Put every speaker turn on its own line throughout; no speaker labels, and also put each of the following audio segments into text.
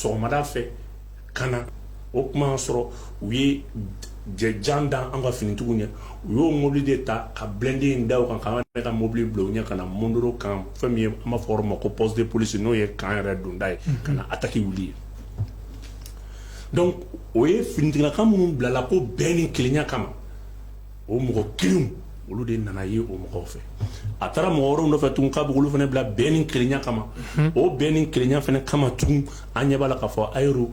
sɔgɔmada fɛ ka na o tuma y'a sɔrɔ u ye jɛ jan da an ka finitigiw ɲɛ u y'o mobili de ta ka blindé in da o kan k'an ka mobili bila u ɲɛ ka na Mondoro kan fɛn min ye an b'a fɔ yɔrɔ ma ko poste de police n'o ye kan yɛrɛ donda ye ka na attaque wuli yen donc o ye finitigila ka minnu bilala ko bɛn ni kelenya kama o mɔgɔ kelenw olu de nana ye o mɔgɔw fɛ a taara mɔgɔ wɛrɛw nɔfɛ tun k'a b'olu fana bila bɛn ni kelenya kama o bɛn ni kelenya fana kama tun an ɲɛ b'a la k'a fɔ Ayorou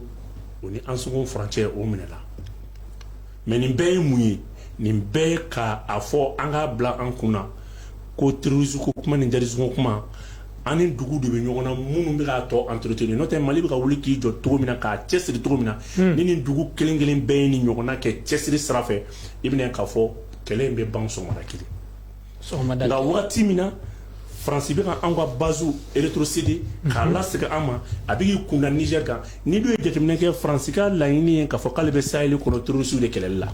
ni Ansongo furancɛ o minɛ la mais nin bɛɛ ye mun ye nin bɛɛ ye k'a fɔ an k'a bila an kun na ko terrorisme ko kuma ni djihadisme kuma ani dugu de bɛ ɲɔgɔn na minnu bɛ k'a tɔ entretenir n'o tɛ mali bɛ ka wuli k'i jɔ cogo min na k'a cɛsiri cogo min na ni nin dugu kelen kelen bɛɛ ye nin ɲɔgɔnna kɛ cɛsiri sira i bɛn'a ye k'a fɔ kɛlɛ in bɛ ban sɔgɔmada kelen nka waati min na faransi bɛ ka an ka base rétrocéder k'a lasegin an ma a bɛ k'i kunda Niger kan n'i dun ye jateminɛ kɛ faransi ka laɲini ye k'a fɔ k'ale bɛ sahel kɔnɔ terroristew de kɛlɛli la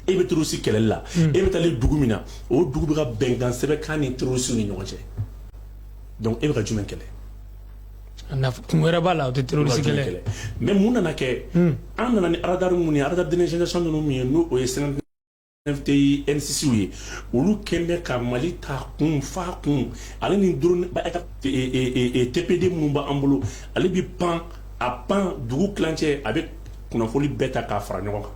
e bɛ terroriste kɛlɛli la e bɛ taalen dugu min na o dugu bɛ ka bɛnkan sɛbɛn k'a ni terroristew ni ɲɔgɔn cɛ donc e bɛ ka jumɛn kɛlɛ kun wɛrɛ b'a
la o tɛ terroriste kɛlɛ ye, mais mun nana
kɛ an nana ni radar minnu ye radar dernière génération ninnu min ye n'o ye 59 TE N6 ye olu kɛlen bɛ ka Mali ta kun f'a kun ale ni drone TB2 minnu b'an bolo ale bɛ pan a pan dugu tilancɛ a bɛ kunnafoni bɛɛ ta k'a fara ɲɔgɔn kan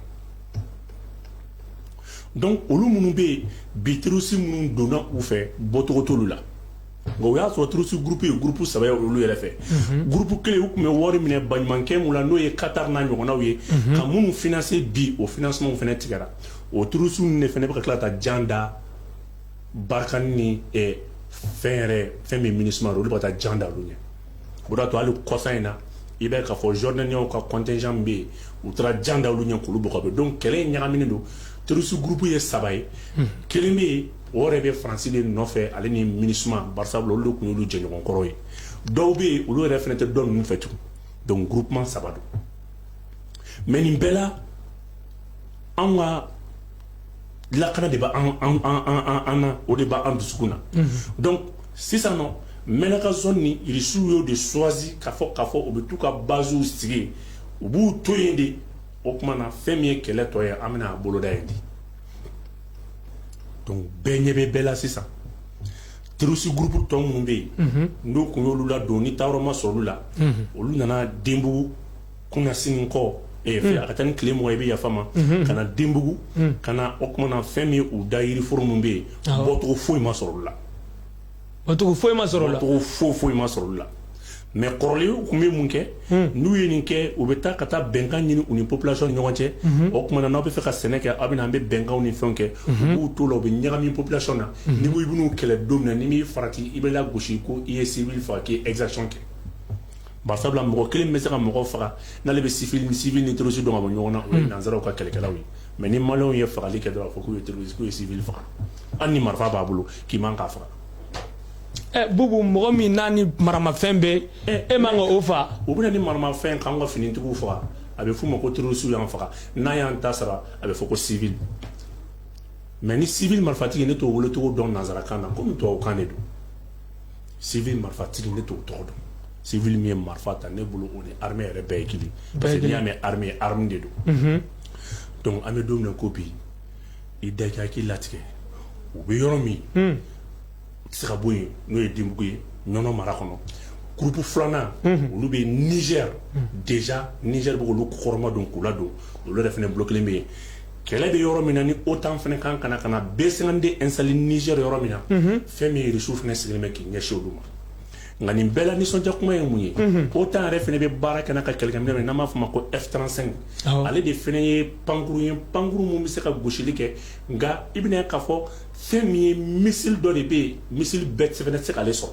donc olu minnu bɛ yen bi terroriste minnu donna u fɛ bɔcogo t'olu la Bon o y'a sɔrɔ terroriste groupe ye groupe saba ye olu yɛrɛ fɛ groupe kelen u tun bɛ wari minɛ balimakɛ min na n'o ye Qatar n'a ɲɔgɔnw ye ka minnu financer bi o financementw fana tigɛra o terroriste de fana bɛ ka tila ka taa jan da Barkhane ni fɛn yɛrɛ fɛn min MINUSMA olu bɛ ka taa jan da olu ɲɛ o de y'a to hali kɔsa in na i b'a ye k'a fɔ Jordaniens ka contingent bɛ yen u taara jan da olu ɲɛ k'olu bɔ donc kɛlɛ in ɲagaminen don terroriste groupe ye saba ye kelen bɛ yen o yɛrɛ bɛ faransi de nɔfɛ ale ni MINUSMA barisa olu de tun y'olu jɛɲɔgɔnkɔrɔ ye dɔw bɛ yen olu yɛrɛ fana tɛ dɔn ninnu fɛ tugun donc groupe saba don mais nin bɛɛ la an ka lakana de b' an na o de b' an dusu na donc sisan nɔ Menaka zone nin irisiw y'o de choisi k'a fɔ k'a fɔ u bɛ taa u ka basew sigi u b'u to yen de o tuma na fɛn min ye kɛlɛ tɔ ye an bɛna a boloda ye di donc bɛɛ ɲɛ bɛ bɛɛ la sisan terroriste groupe tɔ minnu bɛ yen mhm. n'u tun y'olu ladon ni taayɔrɔ ma sɔrɔ olu la mhm. olu nana denbugu kunasini kɔ eh, mhm. a ka taa ni tile mugan ye i bɛ yafa ma ka na denbugu ka na o tuma na fɛn min ye u da yiriforo minnu bɛ yen bɔcogo foyi ma sɔrɔ olu la Matuku
foyi ma sɔrɔ o la. Matuku foyi foyi ma sɔrɔ o
la mais kɔrɔlen u tun bɛ mun kɛ. Un. N'u ye nin kɛ u bɛ taa ka taa bɛnkan ɲini u ni population ni ɲɔgɔn cɛ. Unhun. O tuma na n'aw bɛ fɛ ka sɛnɛ kɛ aw bɛ na an bɛ bɛnkanw ni fɛnw kɛ. Unhun. U b'u t'o la u bɛ ɲagami population na. Unhun. N'i ko i bɛ n'u kɛlɛ don min na n'i m'i farati i bɛ lagosi ko i ye civil faga k'i ye exaction kɛ. Bari sabula mɔgɔ kelen min bɛ se ka mɔgɔ faga n'ale bɛ civil ni civil ni terroriste dɔn ka bɔ ɲɔgɔn na. Un. O ye nansaraw ka kɛlɛkɛlaw ye mais ni maliyɛnw ye fagali kɛ dɔrɔn a bɛ fɔ k'u ye terroriste k'u ye civil faga hali ni marifa b'a bolo. k'i man k'a faga
ɛ Bubu mɔgɔ min n'a ni maramafɛn bɛ e man ka o faga u bɛ na ni
maramafɛn k'an ka finitigiw faga a bɛ f'u ma ko terroristew y'an faga n'a y'an ta sara a bɛ fɔ ko civil mais ni civil marifatigi ne t'o welecogo dɔn nanzarakan na komi tubabukan de don civil marifatigi ne t'o tɔgɔ dɔn civil min ye marifa ta ne bolo o ni armée yɛrɛ bɛɛ ye kelen parce que n'i y'a mɛn armée arme de don donc an bɛ don min na ko bi i daja k'i latigɛ u bɛ yɔrɔ min hmm. tɛ se ka bɔ yen n'o ye Denbugu ye Ɲɔnɔ mara kɔnɔ groupe filanan hmm. olu bɛ Niger hmm. déjà Niger bɛ k'olu kɔkɔrɔmadon k'u ladon olu yɛrɛ fana bolo kelen bɛ yen kɛlɛ bɛ yɔrɔ min na ni OTAN fana kan ka na ka na B52 installer Niger yɔrɔ min na fɛn min ye Irisiw fana sigilen bɛ k'i ɲɛsin olu ma Nka nin bɛɛ la nisɔndiya kuma ye mun ye OTAN yɛrɛ fana bɛ baara kɛ n'a ka kɛlɛkɛminɛn min n'an b'a fɔ ma ko F-35 ale de fana ye pankurun ye pankurun min bɛ se ka gosili kɛ nka i bɛna k'a fɔ fɛn min ye missile dɔ de bɛ yen
missile bɛɛ fana tɛ se k'ale sɔrɔ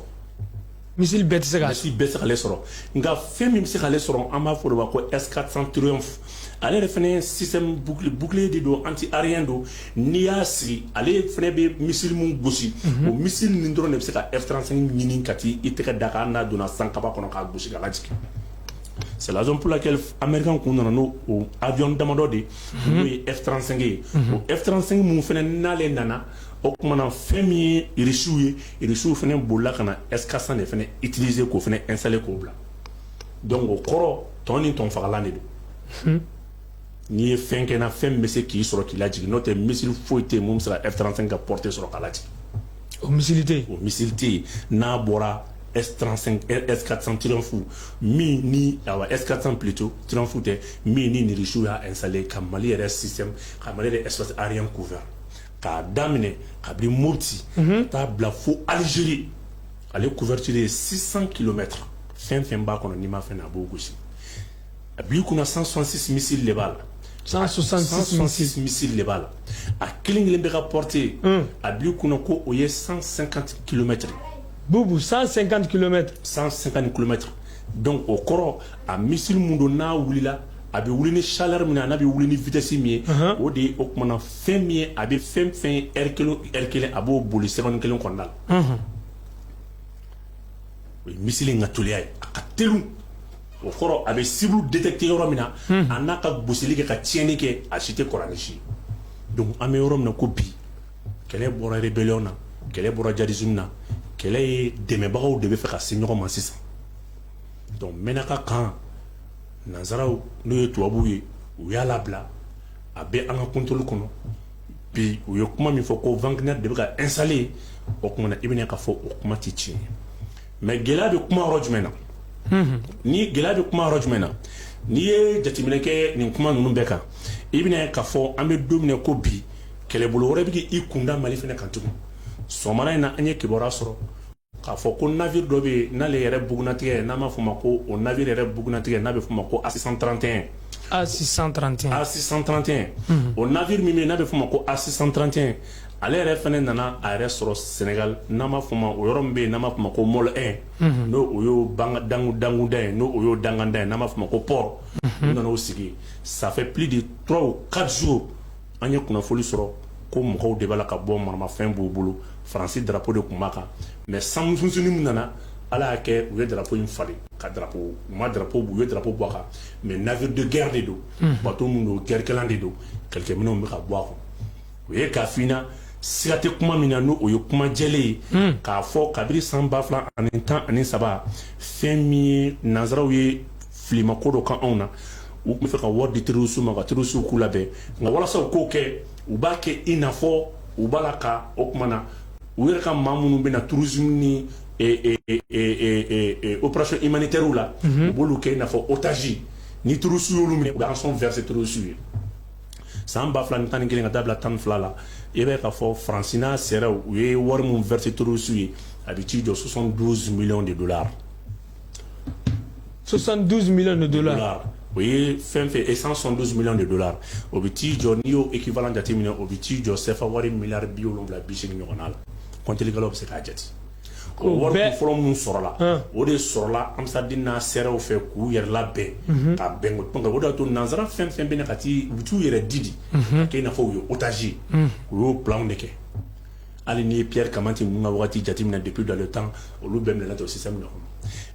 missile bɛɛ tɛ se k'ale sɔrɔ nka
fɛn min bɛ se k'ale sɔrɔ an b'a fɔ o de ma ko S-400 ale yɛrɛ fana ye système bouclier de don anti aérien don n'i y'a sigi ale fana bɛ missile min gosi o missile ninnu dɔrɔn de bɛ se ka F-35 ɲini ka t'i tɛgɛ da a kan hali n'a donna sankaba kɔnɔ k'a gosi k'a lajigin c'est la raison pour laquelle Américains tun nana n'o avion damadɔ de ye n'o ye F-35 ye o F-35 min fana n'ale nana o tuma na fɛn min ye Irisiw ye Irisiw fana bolila ka na S-400 de fana utiliser k'o fana installer k'o bila donc o kɔrɔ tɔn ni tɔnfagalan de don n'i ye fɛn kɛ na fɛn bɛ se k'i sɔrɔ k'i lajigin n'o tɛ missile foyi tɛ yen mun bɛ se ka F35 ka portée sɔrɔ k'a lajigin o missile tɛ
yen o missile tɛ yen
n'a bɔra S35 S400 Triumph min ni awa S400 plutôt Triumph tɛ min ni Irisiw y'a installer ka Mali yɛrɛ système ka Mali yɛrɛ espace aérien couvert k'a daminɛ kabini Mopti ka taa bila fo Algérie ale couverture ye 600 kilomètre fɛn fɛn b'a kɔnɔ n'i ma fɛn na a b'o gosi a b'i kunna 166 missile de b'a la 166 missile de b'a la a kelen kelen bɛɛ ka portée a b'i kunna ko o ye 150 kilomètre Bubu
150 kilomètre 150
kilomètre donc o kɔrɔ a missile mun don n'a wulila a bɛ wuli ni chaleur min ye an'a bɛ wuli ni vitesse min ye o de ye o tuma na fɛn min ye a bɛ fɛn fɛn ye heure kelen o heure kelen a b'o boli seconde kelen kɔnɔna la O ye missile in ka teliya ye a ka teli o kɔrɔ a bɛ cible détecter yɔrɔ min na a n'a ka gosili kɛ ka tiɲɛni kɛ a si tɛ kɔrɔ ni si ye donc an bɛ yɔrɔ min na ko bi kɛlɛ bɔra rébellion na kɛlɛ bɔra djihadisme na kɛlɛ ye dɛmɛbagaw de bɛ fɛ ka se ɲɔgɔn ma sisan donc Mɛnaka kan nanzaraw n'o ye tubabuw ye u y'a labila a bɛ an ka contrôle kɔnɔ bi u ye kuma min fɔ ko Wagner de bɛ ka installer o kuma na i bɛna k'a fɔ o kuma tɛ tiɲɛ ye mais gɛlɛya bɛ kuma yɔrɔ jumɛn na ni gɛlɛya bɛ kuma yɔrɔ jumɛn na n'i ye jateminɛ kɛ nin kuma ninnu bɛɛ kan i bɛna k'a fɔ an bɛ don min na ko bi kɛlɛbolo wɛrɛ bɛ k'i kunda Mali fana kan tugun sɔgɔmada in na an ye kibaruya sɔrɔ k'a fɔ ko navire dɔ bɛ yen n'ale yɛrɛ bugunnatigɛ ye n'an b'a fɔ o ma ko o navire yɛrɛ bugunnatigɛ n'a bɛ fɔ o ma ko A631 A631 o navire min bɛ yen n'a bɛ fɔ o ma ko A631 ale yɛrɛ fana nana a yɛrɛ sɔrɔ Senegal n'an b'a fɔ o ma o yɔrɔ min bɛ yen n'an b'a fɔ o ma ko Môle 1 n'o o y'o banga dangu danguda ye n'o o y'o danganda ye n'an b'a fɔ o ma ko port u nana o sigi ça fait plus de trois ou quatre jours An ye kunnafoni sɔrɔ ko mɔgɔw de b'a la ka bɔ maramafɛn b'u bolo Faransi drapeau de tun b'a kan mais sanmusununi min nana ala y'a kɛ u ye drapeau in falen ka drapeau u ma drapeau u ye drapeau bɔ a kan mais navire de guerre de don bato min don guerrekɛlan de don kɛlɛkɛminɛnw bɛ ka bɔ a kɔnɔ u ye k'a f'i ɲɛna siga tɛ kuma min na n'o ye kuma jɛlen ye k'a fɔ kabini san ba fila ani tan ani saba fɛn min ye nanzaraw ye filima ko dɔ k'anw na u tun bɛ fɛ ka wari di terroriste ma ka terroriste k'u labɛn nka walasa u k'o kɛ u b'a kɛ i n'a fɔ u b'a la ka o tuma na u yɛrɛ ka maa minnu bɛ na tourisme ni opération humanitaire la mhm. u b'olu kɛ i n'a fɔ otage ni terroriste y'olu minɛ u bɛ rançon verser terroriste ye san ba fila ni tan ni kelen ka taa bila tan ni fila la i bɛ k'a fɔ Faransi n'a sɛrɛw u ye wari min verser terroriste ye a bɛ t'i jɔ 72 millions de dollars
72 millions de dollars. o ye
fɛn fɛn ye 172 millions de dollars o bɛ t'i jɔ n'i y'o équivalent jateminɛ o bɛ t'i jɔ CFA wari miliyari bi wolonwula bi seegin ɲɔgɔnna la kɔntilikɛlaw bɛ se k'a jate. o wari kun fɔlɔ minnu sɔrɔla o de sɔrɔla Ansar Dine n'a sɛrɛw fɛ k'u yɛrɛ labɛn ka bɛn ko o de y'a to nanzara fɛn o fɛn bɛ na ka t'i u bɛ t'u yɛrɛ di de ka kɛ i n'a fɔ u ye otage ye u y'o planw de kɛ. hali n'i ye Pierre Camatte ninnu ka wagati jateminɛ depuis dans le temps olu bɛɛ minɛna ten système de kɔnɔ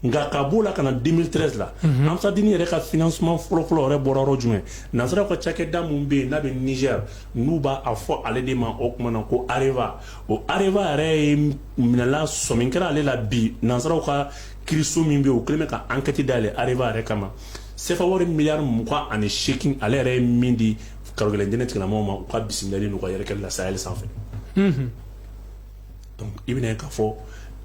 nka ka b'o la ka na 2013 la mhm. Ansar Dine yɛrɛ ka financement fɔlɔfɔlɔ yɛrɛ bɔra yɔrɔ jumɛn nansaraw ka cakɛda min bɛ yen n'a bɛ Niger n'u b'a fɔ ale de ma o tuma na ko Areva o Areva yɛrɛ ye minɛla sɔmi kɛra ale la bi nansaraw ka kiiriso min bɛ yen u kɛlen bɛ ka enquête dayɛlɛ Areva yɛrɛ kama CFA wari miliyari mugan ani seegin ale yɛrɛ ye min di karogɛlɛn diinɛ tigilamɔgɔw ma u ka bisimilali n'u ka yɛrɛkɛli la sahel sanfɛ donc i bɛna ye k'a fɔ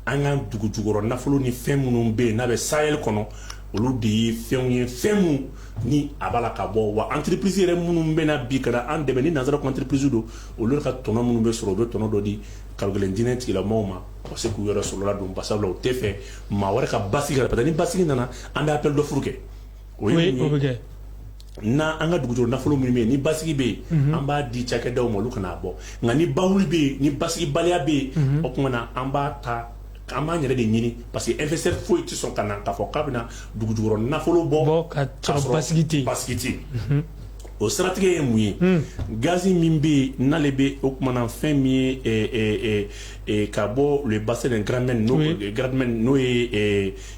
an ka dugu jukɔrɔ nafolo ni fɛn minnu bɛ yen n'a bɛ sahel kɔnɔ olu de ye fɛnw ye fɛn minnu ni a b'a la ka bɔ wa entreprise yɛrɛ minnu bɛ na bi ka na an dɛmɛ ni nanzara ko entreprise don olu ka tɔnɔ minnu bɛ sɔrɔ u bɛ tɔnɔ dɔ di karogɛlɛn diinɛ tigilamɔgɔw ma u ka se k'u yɛrɛ sɔrɔ ladon basabula u tɛ fɛ maa wɛrɛ ka basigi ka parce que ni basigi nana an bɛ appel d'offre kɛ o ye mun ye n' an ka dugu jukɔrɔ nafolo min bɛ yen ni basigi bɛ yen an b'a di cakɛdaw ma olu ka n'a bɔ nka ni balawu bɛ yen ni basigibaliya bɛ yen o tuma na an b'a ta an b'an yɛrɛ de ɲini parce que investisseur foyi tɛ sɔn ka na k'a fɔ k'a bɛna dugu jukɔrɔ nafolo bɔ ka
sɔrɔ basigi tɛ
yen o siratigɛ ye mun ye gazi min bɛ yen n'ale bɛ o tuma na fɛn min ye ka bɔ bassin de graben n'o ye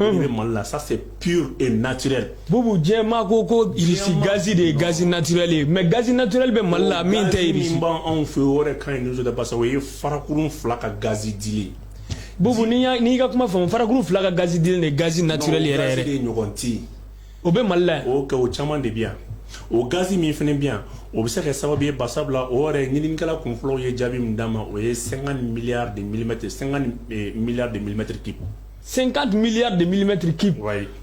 bɛ mali la ça c'est gaz naturel bubu jama
ko irisi gazi de ye gaz naturel mais gaz naturel bɛ mali la min tɛ anw fɛ o
ka ɲi o ye farakuru fila ka gazi di
bubu n'i ka kuma faamu farakuru fila ka gazi di de gaz naturel yɛrɛ de ɲɔgɔn
tɛ o bɛ
mali la o o caman de
bɛ yan o gazi min fana bɛ yan o bɛ se ka sababu ye basabula o yɛrɛ ɲininikɛla kun fɔlɔ ye jaabi min d'an ma o ye 50 milliards de millimètres 50 milliards de millimètres cubes
50 milliards de millimètres cubes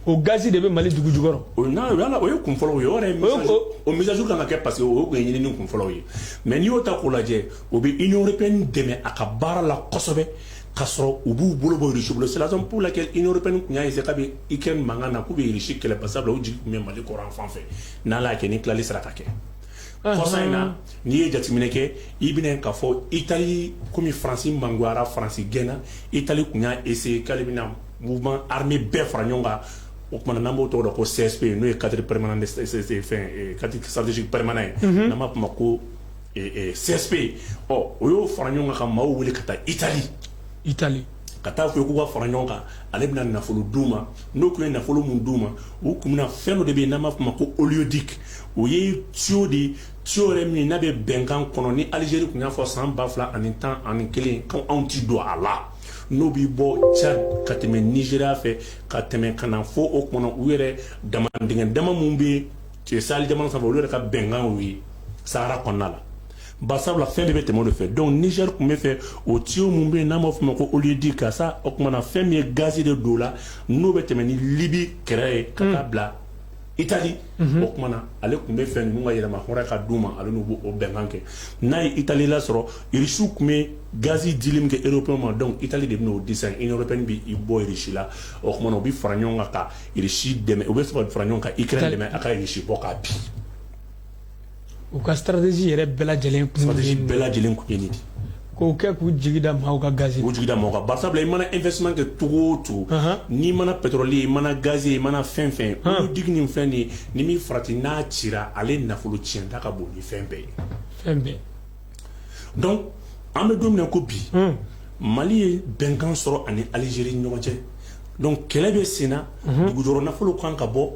o gazi
de bɛ
Mali dugu jukɔrɔ non voilà o ye
kun fɔlɔw ye o yɛrɛ ye o mise à jour kan ka kɛ parce que o tun ye ɲinini kun fɔlɔw ye mais n'i y'o ta k'o lajɛ o bɛ Union européenne dɛmɛ a ka baara la kosɛbɛ ka sɔrɔ u b'u bolo bɔ Russie bolo c'est la raison pour laquelle Union européenne tun y'a essayer kabini Ukraine mankan na k'u bɛ Irisi kɛlɛ basabula u jigi tun bɛ Mali kɔrɔn yanfan fɛ n'Ala y'a kɛ ni tilali sera ka kɛ kɔsa in na n'i ye jateminɛ kɛ i bɛna k'a fɔ itali komi faransi mangoyara faransi gɛnna itali tun y'a essayer k'ale bɛna mouvement armé bɛɛ fara ɲɔgɔn kan o tumana n'an b'o tɔgɔ dɔn ko CSP n'o ye cadre permanent de fɛn cadre stratégique permanent ye n'an b'a f'o ma ko CSP ɔ o y'o fara ɲɔgɔn kan ka maaw wele ka taa itali itali ka taa fɔ k'u ka fara ɲɔgɔn kan ale bɛna nafolo d'u ma n'o tun ye nafolo min d'u ma u tun bɛna fɛn dɔ de bɛ yen n'an b'a fɔ ma ko oléoduc o ye tuyau de ye tuyau yɛrɛ min n'a bɛ bɛnkan kɔnɔ ni alizeri tun y'a fɔ san ba fila ani tan ani kelen ko anw tɛ don a la n'o bɛ bɔ cadi ka tɛmɛ nizeriya fɛ ka tɛmɛ ka na fo o kɔnɔ u yɛrɛ damandingɛ dama minnu bɛ sahel jamana sanfɛ olu yɛrɛ ka bɛnkan ye sahara kɔnɔna la Basabula fɛn de bɛ tɛmɛ o de fɛ donc niger tun b'a fɛ o tuyau minnu bɛ yen n'an b'a fɔ ma ko oléoduc karisa o tuma na fɛn min ye gaz de don la n'o bɛ tɛmɛ ni libi kɛrɛ ye ka taa bila itali o tuma na ale tun b'a fɛ ninnu ka yɛrɛmahɔrɔnya d'u ma ale n'u b'o bɛnkan kɛ n'a ye itali lasɔrɔ irisiw tun bɛ gaz dili min kɛ europe ma donc itali de bɛna o di sisan union européenne bɛ i bɔ irisi la o tuma na u bɛ fara ɲɔgɔn kan ka irisi dɛmɛ u bɛ sɔrɔ fara ɲɔgɔn kan ukraine dɛmɛ a ka irisi bɔ k'a bin
u ka stratégie yɛrɛ bɛɛ lajɛlen bɛɛ lajɛlen kun
de k'o kɛ k'u
jigida maaw ka gaz k'u jigida mɔgɔ kan barisa
i mana investissement kɛ cogo o cogo n'i mana pétrole ye i mana gaz ye i mana fɛn fɛn oléoduc nin fɛn de ye ni min farati n'a cira ale nafolo tiɲɛta ka bon ni fɛn bɛɛ ye fɛn bɛɛ donc an bɛ don min na ko bi mali ye bɛnkan sɔrɔ ani Algérie ɲɔgɔn cɛ donc kɛlɛ bɛ senna dugujukɔrɔ nafolo kan ka bɔ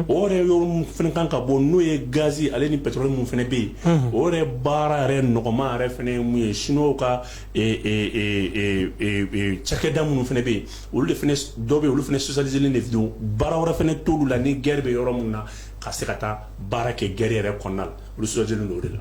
o yɔrɔ kan ka bɔ n'o ye gaz ale ni pétrole min fana bɛ yen o yɛrɛ baara yɛrɛ nɔgɔma yɛrɛ fana ye mun ye chinois ka cakɛda minnu fana bɛ yen olu de dɔ bɛ olu fana spécialisé de don baara wɛrɛ fana t'olu la ni guerre bɛ yɔrɔ min na ka se ka taa baara kɛ guerre yɛrɛ kɔnɔna la olu spécialisé don o de la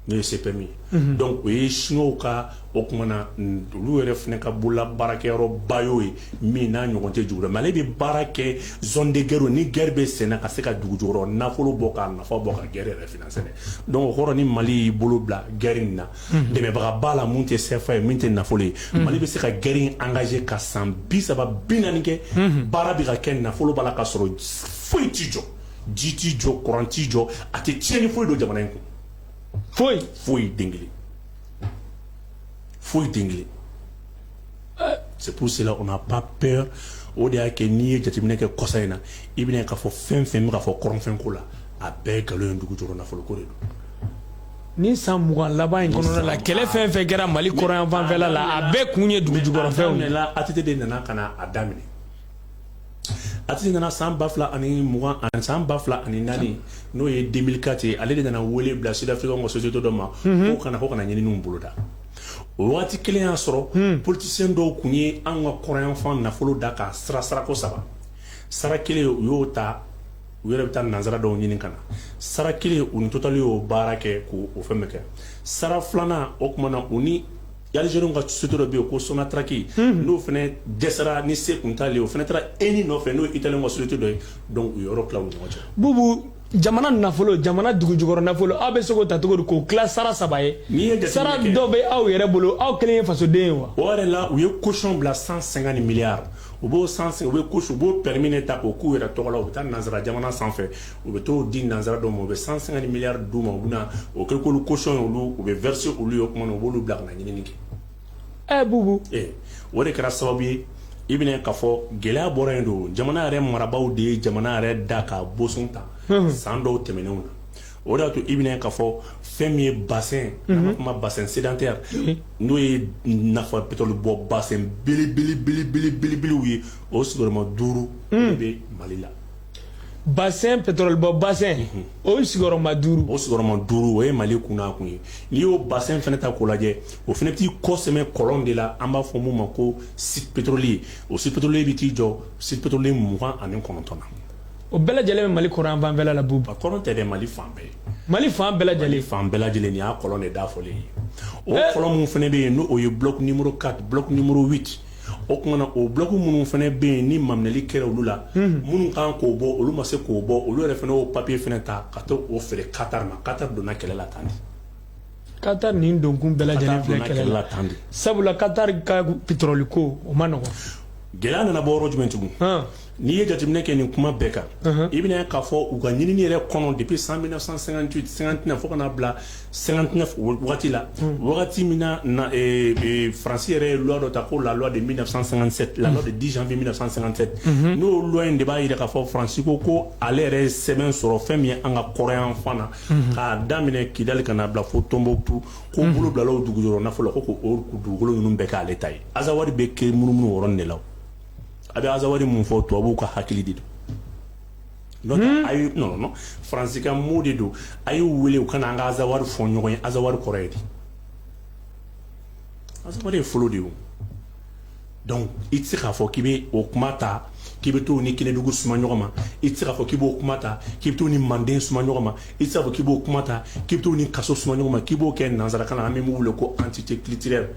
n'o ye CPM ye unhun donc o ye chinoisw ka o tuma na n olu yɛrɛ fɛnɛ ka bolola baarakɛyɔrɔba y'o ye min n'a ɲɔgɔn tɛ dugu la mais ale be baara kɛ zone de guerre u ni guerre be senna ka se ka dugujukɔrɔ nafolo bɔ k'a nafa bɔ ka guerre yɛrɛ financer dɛ donc o kɔrɔ ni Mali y'i bolo bila guerre in na unhun dɛmɛbaga b'a la min te CFA ye min te nafolo ye unhun Mali be se ka guerre in engager ka san 30 40 kɛ unhun baara be ka kɛ nafolo b'a la k'a sɔrɔ foyi t'i jɔ ji tɛ jɔ kuran tɛ jɔ a tɛ cɛnni foyi don jamana in kun foyi foyi den kelen c'est pour cela on n'a pas peur o de y'a kɛ n'i ye jateminɛ kɛ kɔsa in na i bɛna k'a fɔ fɛn fɛn bɛ k'a fɔ kɔrɔnfɛn ko la a bɛɛ nkalon ye dugu jukɔrɔ nafolo ko de don
ni san mugan laban in kɔnɔna la kɛlɛ fɛn fɛn kɛra mali kɔrɔnyanfanfɛla la a bɛɛ kun ye dugu jukɔrɔfɛnw de ye ATT de nana ka na
a daminɛ ATT nana san ba fila ani mugan ani san ba fila ani naani n'o ye deux mille quatre ye ale de nana wele bila Sud-Afrique ka société dɔ ma o ka na ko ka na ɲinin boloda o waati kelen y'a sɔrɔ politisiyɛn dɔw kun ye an ka kɔrɔyanfan nafolo da ka sara sarako saba sara kelen u y'o ta u yɛrɛ bɛ taa nansara dɔw ɲini ka na sara kelen u ni Total y'o baara kɛ k'o fɛn bɛɛ kɛ sara filanan o tuma na u ni Algériens ka société dɔ bɛ yen ko Sonatrach n'o fana dɛsɛra ni se tun t'ale ye o fana taara ENI nɔfɛ n'o ye Italien ka société dɔ ye u ye yɔrɔ tila ɲɔgɔn cɛ bubu jamana
nafolo jamana dugu jukɔrɔ nafolo aw bɛ se k'o ta cogo di k'o kɛ sara saba ye n'i ye de sara dɔ bɛ aw yɛrɛ bolo aw kelen ye fasoden ye wa o yɛrɛ la u ye
caution bila cent cinquante milliards u b'o san u bɛ u b'o permis ta k'o k'u yɛrɛ tɔgɔ la u bɛ taa nansara jamana sanfɛ u bɛ t'o di nansara dɔw ma u bɛ cent cinquante milliards d'u ma u bɛ na o kɛ k'olu caution ye olu u bɛ verser olu ye o tuma u b'olu bila ka ɲinini kɛ ɛ bubu o de kɛra sababu ye i bɛna k'a fɔ gɛlɛya bɔra yen donc jamana yɛrɛ marabagaw de ye jamana yɛrɛ da ka boson ta san dɔw tɛmɛnenw na o de y'a to i bɛna k'a fɔ fɛn min ye b'a fɔ ma bassin sédentaire n'o ye nafa pétrole bɔ bassin belebelew ye o sigiyɔrɔma duuru bɛ mali la
bassin pétrole bɔ bassin o ye sigiyɔrɔma duuru o sigiyɔrɔma duuru o
ye mali kunna kun ye n'i y'o bassin fɛnɛ ta k'o lajɛ o fɛnɛ bɛ t'i kɔsɛmɛ kɔlɔn de la an b'a fɔ mun ma ko site pétrolier o site pétrolier bɛ t'i jɔ site pétrolier mugan ani kɔnɔntɔn na o bɛɛ lajɛlen bɛ mali
kɔrɔn fanfɛla la bubu a kɔrɔn tɛ dɛ mali
fan bɛɛ mali fan bɛɛ
lajɛlen fan bɛɛ lajɛlen nin y'a
kɔlɔn de da fɔlen ye o kɔlɔn min fɛnɛ bɛ yen n'o ye bloc numéro 4 bloc numéro 8 o kumana o bloc minnu fɛnɛ bɛ yen ni maminɛli kɛra olu la minnu kan k'o bɔ olu ma se k'o bɔ olu yɛrɛ fɛnɛ y'o papiye fɛnɛ ta ka taa o feere Qatar ma Qatar donna kɛlɛ la tan de Qatar
nin donkun bɛɛ lajɛlen filɛ kɛlɛ la tan de sabula Qatar ka pétrole ko o man nɔgɔn gɛlɛya nana bɔ
yɔrɔ jumɛn tugun N'i ye jateminɛ kɛ nin kuma bɛɛ kan i bɛna k'a fɔ u ka ɲinini yɛrɛ kɔnɔ depuis 1958 59 fo ka na bila 59 waati la wagati min faransi yɛrɛ ye loi dɔ ta ko la loi de 1957 la loi du 10 janvier 1957 n'o loi in de b'a jira k'a fɔ faransi ko ko ale yɛrɛ ye sɛbɛn sɔrɔ fɛn min ye an ka kɔrɔnyanfan na k'a daminɛ kidali ka n'a bila fo tonbotu ko bolo bilala o dugu jukɔrɔ nafolo ko ko dugukolo ninnu bɛɛ k'ale ta ye azawadi bɛ ka munumunu o yɔrɔnin de la a bɛ azawadi min fɔ tubabuw ka hakili de don a non faransi ka mot de don a y'u weele u ka na an ka azawadi fɔ ɲɔgɔn ye azawadi kɔrɔ ye di azawadi ye folo de ye i tɛ se k'a fɔ k'i bɛ o kuma ta k'i bɛ t'o ni kɛnɛdugu suma ɲɔgɔn ma i tɛ se k'a fɔ k'i b'o kuma ta k'i bɛ t'o ni manden suma ɲɔgɔn ma i tɛ se k'a fɔ k'i b'o kuma ta k'i bɛ t'o ni kaso suma ɲɔgɔn ma k'i b'o kɛ nanzarakan na an bɛ min wele ko entité culturelle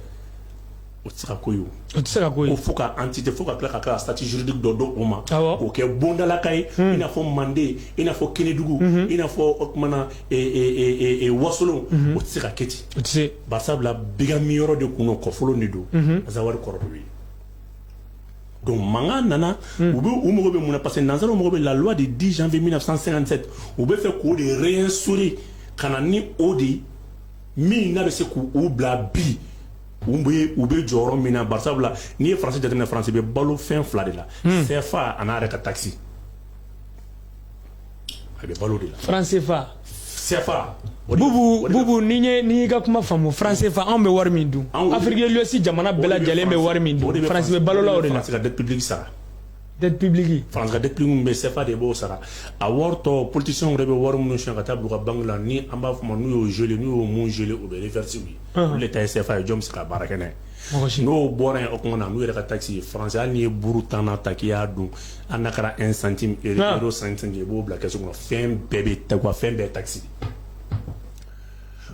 O tɛ se ka k'o ye o, o tɛ se ka ko ye, ko
fo ka entité
fo
ka
tila ka tila statut juridique dɔ d'o ma, awɔ, k'o kɛ bondalaka ye i n'a fɔ manden i n'a fɔ kɛnɛdugu i n'a fɔ o tuma na e e wasolon o tɛ se ka kɛ ten, o tɛ se, barisabula
bigan
min yɔrɔ de tun don kɔfolo de don Azawadi kɔrɔ de bɛ yen donc mankan nana u bɛ u mago bɛ mun na parce que nansaraw mago bɛ la loi du 10 janvier 1957 u b'a fɛ k'o de réinstaurer ka na ni o de min n'a bɛ se k'u bila bi U bɛ u bɛ jɔyɔrɔ min na basa la n'i ye fasi jamana fana bɛ balo fɛn fila de la fɛn fa ani n'a yɛrɛ ka ta a
bɛ balo de la fafaa n'i ka kuma faamu fafaa anw bɛ wari min dun anwsi jamana bɛɛ lajɛlen bɛ wari min bɛ balola de se ka sa
Dpbili
fanga dip bɛ
sefa de b'o sara a wɔɔrɔtɔ ptese yɛrɛ bɛ wari minnu si ka taa bila ka bange la ni an b'a fɔ ma n'u y'o zoni n'u y'o zele u bɛ vte ye ta sefa ye jɔn bɛ se ka baara kɛnɛ n'o bɔra yen o tuma na n'u yɛrɛ ka taa ci faya ni ye buru tanana ta kkiya don an na kɛra n santi don san i b'o bila kɛ so fɛn bɛɛ bɛ ta fɛn bɛɛ ta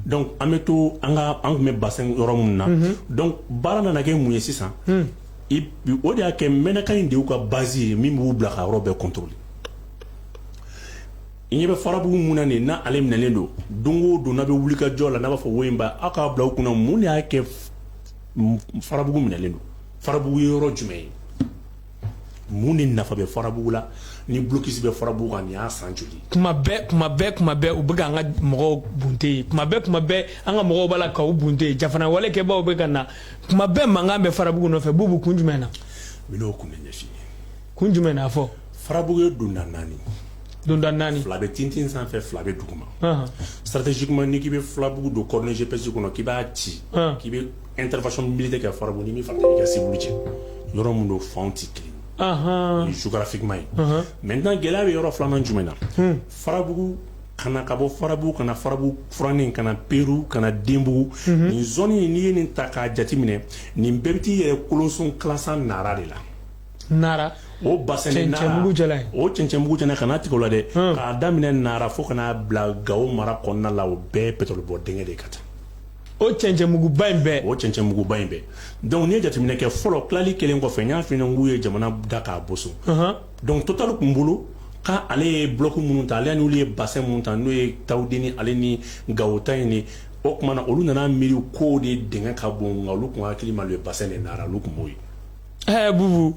Donc an bɛ to an ka an kun bɛ bassin yɔrɔ minnu na, unhun, donc baara nana kɛ mun ye sisan, un, i o de y'a kɛ Menaka in de y'u ka base ye min b'u bila ka yɔrɔ bɛɛ contrôler i ɲɛ bɛ farabugu mun na nin n'a ale minɛlen don don o don n'a bɛ wuli ka jɔ la n'a b'a fɔ wo in ba aw k'a bila u kunna mun de y'a kɛ farabugu minɛlen don farabugu ye yɔrɔ jumɛn ye mun de nafa bɛ farabugu la ni blocus bɛ farabugu kan nin y'a san joli kuma bɛɛ kuma
bɛɛ kuma bɛɛ u bɛ ka an ka mɔgɔw bunte yen kuma bɛɛ kuma bɛɛ an ka mɔgɔw b'a la k'aw bunte yen jafana wale kɛbaaw bɛ ka na kuma bɛɛ mankan bɛ farabugu nɔfɛ bubu kun jumɛn na n bɛn'o kun
de ɲɛf'i ye kun jumɛn na
fɔ farabugu ye
donda naani donda naani fila bɛ tintin sanfɛ fila bɛ duguma stratégiquement n'i k'i bɛ farabugu don coordonnées GPS kɔnɔ k'i b'a ci k'i bɛ intervention militaire kɛ farabugu ni min fana i ka civil cɛ yɔrɔ min don fanw tɛ kelen ye géographiquement ye maintenant gɛlɛya bɛ yɔrɔ filanan jumɛn na farabugu ka na ka bɔ farabugu ka na farabugu furanin ka na peru ka na denbugu nin zone in n'i ye nin ta k'a jateminɛ nin bɛɛ bɛ t'i yɛrɛ kolonson kilasa nara de la
nara o bassin
de nara cɛncɛnmugu jala ye o cɛncɛnmugu jala ka na tigɛ o la dɛ k'a daminɛ nara fo ka na bila gawo mara kɔnɔna la o bɛɛ ye pétrole bɔ dingɛ de ye ka taa
o cɛncɛnmuguba in bɛɛ o cɛncɛnmuguba in bɛɛ donc n'i ye jateminɛ kɛ fɔlɔ tilali kelen kɔfɛ n y'a f'i ɲɛna k'u ye jamana da k'a boson donc total tun bolo ka ale ye bloc minnu ta ale n'olu ye bassin minnu ta n'o ye tawudeni ale ni gawo ta in ni o tuma na olu nana miiri k'o de dingɛ ka bon nka olu tun hakili ma le bassin de nara olu tun b'o ye ɛɛ bubu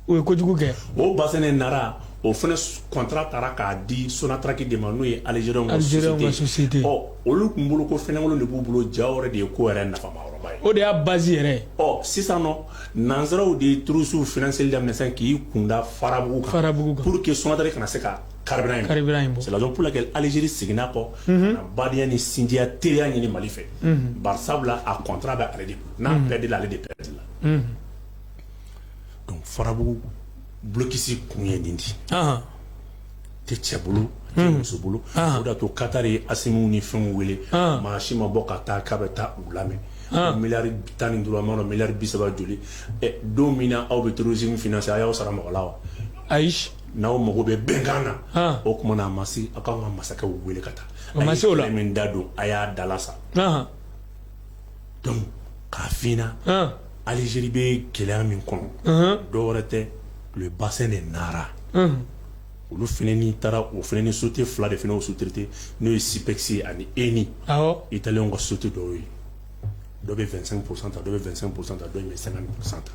o ye
kojugu kɛ
o basɛnɛ
nara
o fana kɔntara taara k'a di sonataraki de ma n'o ye alizw masite ɔ
olu tun bolo
ko fɛnkolon de b'u bolo ja yɛrɛ de ye ko yɛrɛ nafa ye o de y'a ba yɛrɛ
ɔ sisan nɔ
nanzsaraww de ye tuurusiww f seli la k'i kunda farabu farabu pur que sotari kana se ka kari kari kɛ alizeri seginna kɔ ka badenya ni sinjiya teriya ɲini mali fɛ sabula a kɔntra bɛ ale de n'a bɛɛ de ale de bɛɛ la donc farabugu blocus kun ye nin de ye, anhan, tɛ cɛ bolo a tɛ muso bolo o de y'a to Qatar ye Asimiw ni fɛnw wele maa si ma bɔ ka taa k'a bɛ taa u lamɛn ko miliyari tan ni duuru n m'a dɔn miliyari bi saba joli ɛ don min na aw bɛ terrorisme financer a y'aw sara mɔgɔ la wa
ayi, n'aw mago
bɛ bɛnkan na o tuma na a ma se aw ka kan ka masakɛw wele ka taa a ma se o la, a ye kɛlɛ min da don a y'a dalasa, anhan dɔnku k'a fna alizeri bɛ gɛlɛya min kɔnɔ dɔw wɛrɛ tɛ u ye bas de nara olu f taara o f ni sote fila de o sutete n'o ye sipkisi ani eni i taalen ka sotu dɔw ye dɔ bɛ fɛn psanta dɔ bɛ fɛn psanta dɔ bɛ san psanta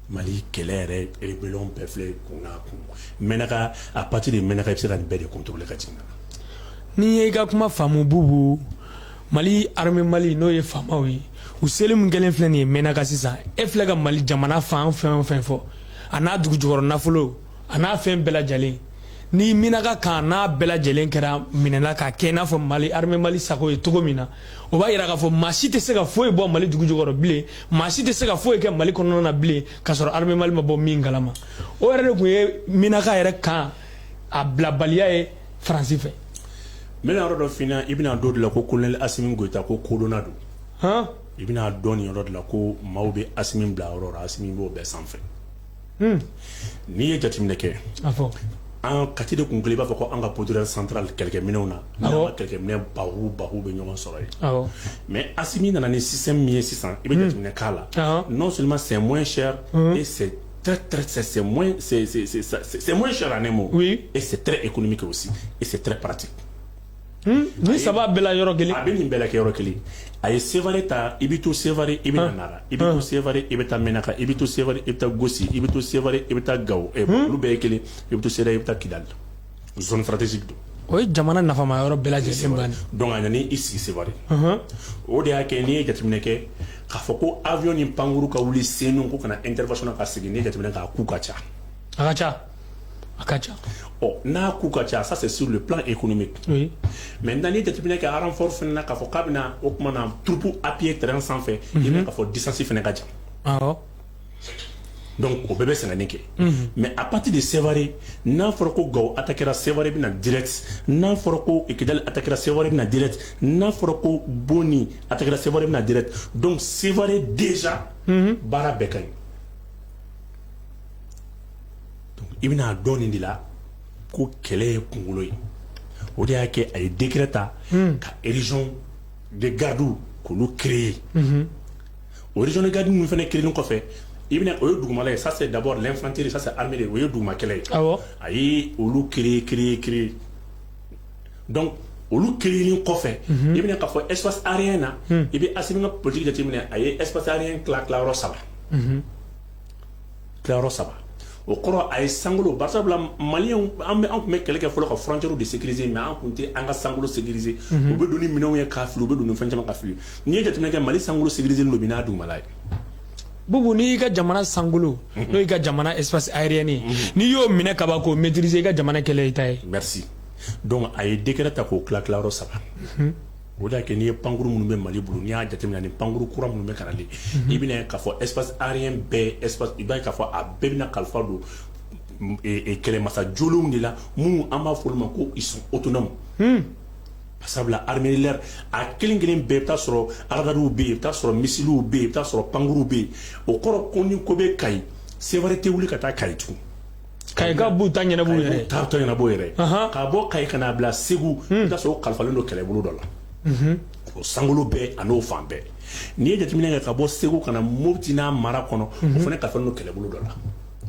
Mali kɛlɛ yɛrɛ rébellion bɛɛ filɛ kun kun Menaka à partir de Menaka i bɛ se ka nin bɛɛ de contrôler ka na ni n ye
i ka kuma faamu bubu mali armée mali n'o ye faamaw ye u seli min kɛlen filɛ nin ye Menaka sisan e filɛ ka mali jamana fan fɛn o fɛn fɔ a n'a dugu jukɔrɔ nafolo a n'a fɛn bɛɛ lajɛlen ni Menaka kan n'a bɛɛ lajɛlen kɛra minɛla k'a kɛ i n'a fɔ mali armée mali sago ye cogo min na o b'a yira k'a fɔ maa si tɛ se ka foyi bɔ mali dugu jukɔrɔ bilen maa si tɛ se ka foyi kɛ mali kɔnɔna na bilen k'a sɔrɔ armée mali ma bɔ min kalama o yɛrɛ de tun ye Menaka yɛrɛ kan a bilabaliya ye faransi fɛ n bɛna
yɔrɔ dɔ f'i ɲɛna i bɛna dɔn de la ko colonel asimi goyita ko kodɔnna don han i bɛna dɔn nin yɔrɔ de la ko maaw bɛ asimi bila yɔrɔ la asimi b'o bɛɛ sanfɛ Hmm. N'i ye jateminɛ kɛ an kati de tun i b'a fɔ ko an ka pd san kɛlɛkɛminw na kɛlɛkɛminɛ ba ba bɛ ɲɔgɔn sɔrɔ yen mɛ a min nana ni sisan min ye sisan i bɛ hmm. jateminɛ k'a la n'o sɔrɔ ma sɛ mɔ sɛ sɛ mɔ sɛ ne ma e sɛ e kɔni min kɛ o si e sɛ pati
Hmm? nin saba bɛɛ la yɔrɔ kelen a bɛ nin bɛɛ lajɛ yɔrɔ
kelen a ye Sévaré ta i bɛ to Sévaré i bɛ na hmm. nara i bɛ to Sévaré hmm. i bɛ taa Menaka i bɛ to Sévaré i bɛ taa gosi i bɛ to Sévaré i bɛ taa gawo olu bɛɛ ye kelen i bɛ to Sévaré i bɛ taa Kidali zone stratégique don o ye jamana
nafama yɔrɔ bɛɛ lajɛlen donc a nana i
sigi Sévaré o de y'a kɛ n'i ye jateminɛ kɛ k'a fɔ ko avion ni pankuru ka wuli senu ko ka na intervention ka segin n'i ye jateminɛ k'a coût ka ca ka ca a ka ca ɔ n'a coût ka ca ça c'est sur le plan économique oui. maintenant n'i ye jateminɛ kɛ renfort fana na k'a fɔ k'a bɛna o tuma na troupe appuyer terrain sanfɛ mm -hmm. i bɛ k'a fɔ distance fana ka jan awɔ donc o bɛɛ bɛ sɛgɛnni kɛ mais à partir de Sévaré n'a fɔra ko Gawo attaquera Sévaré bɛ na direct n'a fɔra ko Kidali attaquera Sévaré bɛ na direct n'a fɔra ko Boni attaquera Sévaré bɛ na direct donc Sévaré déjà baara bɛɛ ka ɲi i bɛna dɔn nin de la ko kɛlɛ ye kunkolo ye o de y'a kɛ a ye dɛgɛ ta hmm. ka erez de gadi kulu kire ye oz gadi min fana kirin kɔfɛ i bɛna o ye dugumala ye sa dabɔ lɛnfantere sa amadu o ye duguma kɛlɛ ye a ye olu ki ki ki olu kirin kɔfɛ hmm. i bɛna ka fɔ esfa areye na hmm. i bɛ a ka pti jateminɛ a ye espsare tilayɔrɔ saba tilayɔrɔ saba o kɔrɔ a ye sankolo bari sabula maliyɛnw an bɛ an tun bɛ kɛlɛ kɛ fɔlɔ ka frontières de sécuriser mais an tun tɛ an ka sankolo sécuriser mhm. u bɛ don ni minɛnw ye k'a fili u bɛ don ni fɛn caman ka fili n'i ye jateminɛ kɛ mali sankolo sécuriser don bi n'a dugumala ye
bubu n'i y'i ka jamana sankolo mhm. n'o y'i ka jamana espace aérien ye mhm. n'i y'o minɛ ka ban k'o maîtriser i ka jamana kɛlɛ i ta ye merci
donc a ye décret ta k'o tila tilayɔrɔ saba O de y'a kɛ n'i ye pankurun minnu bɛ mali bolo n'i y'a jate ni pankurun kura minnu bɛ ka na i bɛna k'a fɔ espace aérien bɛɛ i b'a ye k'a fɔ a bɛɛ bɛna kalifa don kɛlɛmasa jɔlenw de la minnu an b'a fɔ olu ma ko ils sont autonomes sabula armée de l'air a kelen kelen bɛɛ i bɛ taa sɔrɔ radariw bɛ yen i bɛ taa sɔrɔ misiliw bɛ yen i bɛ taa sɔrɔ pankurunw bɛ yen o kɔrɔ ko ni ko bɛ kayi sévaré tɛ wuli ka taa kayi tugun kayikaw
b'u ta ɲɛnabɔ yɛrɛ ta ta ɲɛnabɔ
yɛrɛ ka bɔ kayi ka n'a bila segu hmm. i bɛ taa sɔrɔ o kalifalen don kɛlɛbolo dɔ la mhm. o sankolo bɛɛ an'o fan bɛɛ n'i ye jateminɛ kɛ ka bɔ segu ka na moti n'a mara kɔnɔ o mhm. fana kalifalen don kɛlɛbolo dɔ la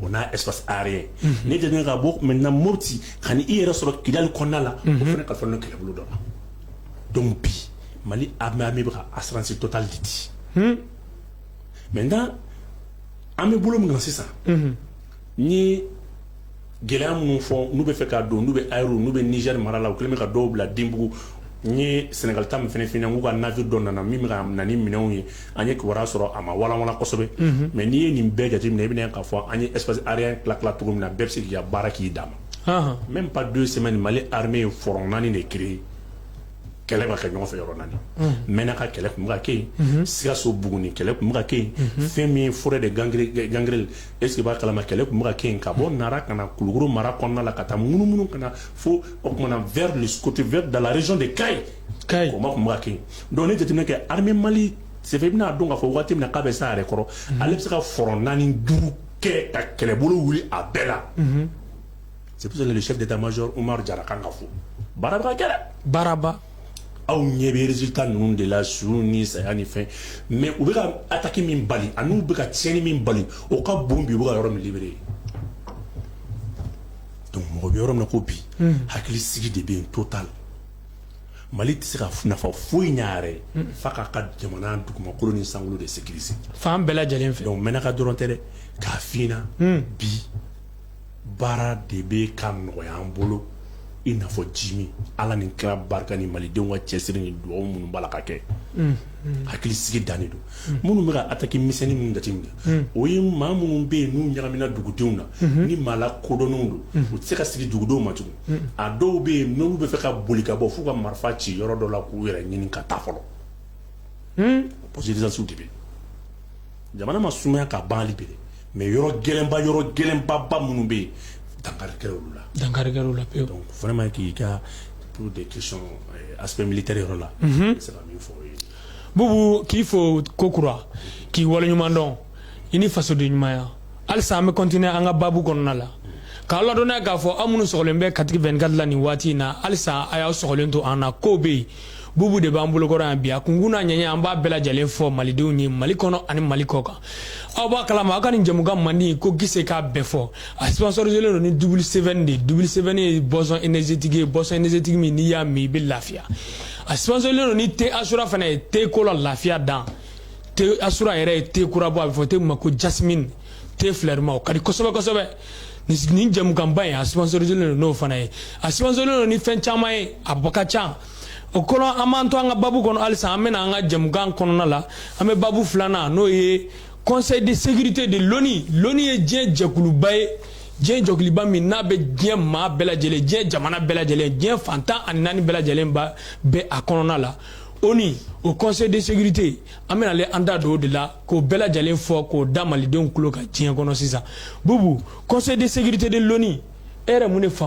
o n'a espace aérien mhm. n'i ye jateminɛ ka bɔ maintenant moti ka n'i yɛrɛ sɔrɔ kidali kɔnɔna la o fana kalifalen don kɛlɛbolo dɔ la donc bi mali armée armée bɛ ka assurance totale de di hmm. maintenant an bɛ bolo min kan sisan Ni gɛlɛya minnu fɔ n'u bɛ fɛ ka don n'u bɛ a n'u bɛ niger mara la u kɛlen bɛ ka dɔw bila denbugu ni sénégal ta min fana f ɲɛna k'u ka navire dɔ nana min bɛ na ni minɛnw ye an ye kibaruya sɔrɔ a ma walawala kosɛbɛ mais n'i ye nin bɛɛ jateminɛ i bɛna k'a fɔ an ye espace aérien tila tila cogo min na bɛɛ bɛ se k'i ka baara k'i dama même pas deux semaines mali armée ye front naani de créer kɛlɛ bɛ ka kɛ ɲɔgɔn fɛ yɔrɔ naani mɛnaka kɛlɛ kun bɛ ka kɛ yen sikaso buguni kɛlɛ kun bɛ ka kɛ yen fɛn min forêt de gan gangri est-ce qu'i b'a kalama kɛlɛ kun bɛ ka kɛ ka bɔ nara ka na kulukɔrɔ mara kɔnɔna la ka taa munumunu ka na fo o tumaumana vers le côté vers dans la région de kayi combat kun bɛ ka kɛ donc n'i ye jateminɛ kɛ armée mali ça fait i bɛn'a dɔn k'a fɔ waati min na k'a bɛ s'a yɛrɛ kɔrɔ ale bɛ se ka front naani duuru kɛ ka kɛlɛbolo wuli a bɛɛ la c'est pour ça chef d'état-major umaru jara kan ka fo baaraba kɛra baaraba
aw
ɲɛ bɛ résultat ninnu de la su ni saya ni fɛn mais u bɛ ka attaque min bali an'u bɛ ka tiɲɛni min bali o ka bon bi u bɛ ka yɔrɔ min libérer donc mɔgɔ bɛ yɔrɔ min na ko bi hakili sigi de bɛ yen total mali tɛ se ka nafa foyi ɲ'a yɛrɛ ye f'a k'a ka jamana dugumakolo ni sankolo de sécuriser fan bɛɛ lajɛlen
fɛ donc mɛnaka dɔrɔn tɛ dɛ
k'a f'i ɲɛna bi baara de bɛ ka nɔgɔya an bolo i n'a fɔ jimi ala ni kira barika ni malidenw ka cɛsiri ni dugawu minnu b'a la ka kɛ hakili sigi dan don minnu bɛ ka attaque misɛnnin minnu jateminɛ o ye maa minnu bɛ yen n'u ɲagamina dugudenw na ni maa lakodɔnnenw don u tɛ se ka sigi dugudenw ma tugun a dɔw bɛ yen n'u bɛ fɛ ka boli ka bɔ f'u ka marifa ci yɔrɔ dɔ la k'u yɛrɛ ɲini ka taa fɔlɔ pɔsiw de bɛ jamana ma sumaya ka ban hali bi mais yɔrɔ gɛlɛnba yɔrɔ gɛlɛnbaba minnu bɛ yen dankarila
dankarila pewu vraiment k'i ka
des questions aspect militaire yɔrɔ la bubu
k'i fo kokura k'i waleɲuman dɔn i ni fasodenɲumanya halisa an bɛ continuer an ka baabu kɔnɔna la k'a ladɔnniya k'a fɔ aw minnu sɔgɔlen bɛ kati 24 la nin waati in na halisa a y'aw sɔgɔlen to an na ko bɛ yen bubu de b'an bolokɔrɔ yan bi a kunkun n'a ɲɛɲɛ an b'a bɛɛ lajɛlen fɔ malidenw ye mali kɔnɔ ani mali kɔ kan aw b'a kalama aw ka nin jɛmukan mandi ko gise k'a bɛɛ fɔ a sponsoriselen don ni double seven de double seven ye boisson énergétique ye boisson énergétique min n'i y'a min i bɛ lafiya a sponsoriselen don ni te asura fana ye te ko la lafiya dan te asura yɛrɛ ye te kura bɔ a bɛ fɔ te min ma ko jasmine te filɛrima o ka di kosɛbɛ kosɛbɛ nin jɛmukanba in a sponsoriselen don n'o fana ye a sponsoriselen don ni fɛn caman ye a bɔ ka ca o kɔnɔ an b'an to an ka babu kɔnɔ halisa an bɛna an ka jɛmukan kɔnɔna la an bɛ babu filanan n'o ye conseil de sécurité de l'ONU l'ONU ye diɲɛ jɛkuluba ye diɲɛ jɛkuluba min n'a bɛ diɲɛ maa bɛɛ lajɛlen diɲɛ jamana bɛɛ lajɛlen diɲɛ fan tan ani naani bɛɛ lajɛlen bɛ a kɔnɔna la ONU o conseil de sécurité an bɛna ale an da don o de la k'o bɛɛ lajɛlen fɔ k'o da malidenw tulo kan diɲɛ kɔnɔ sisan bubu conseil de sécurité de l'ONU e yɛrɛ mun de faamu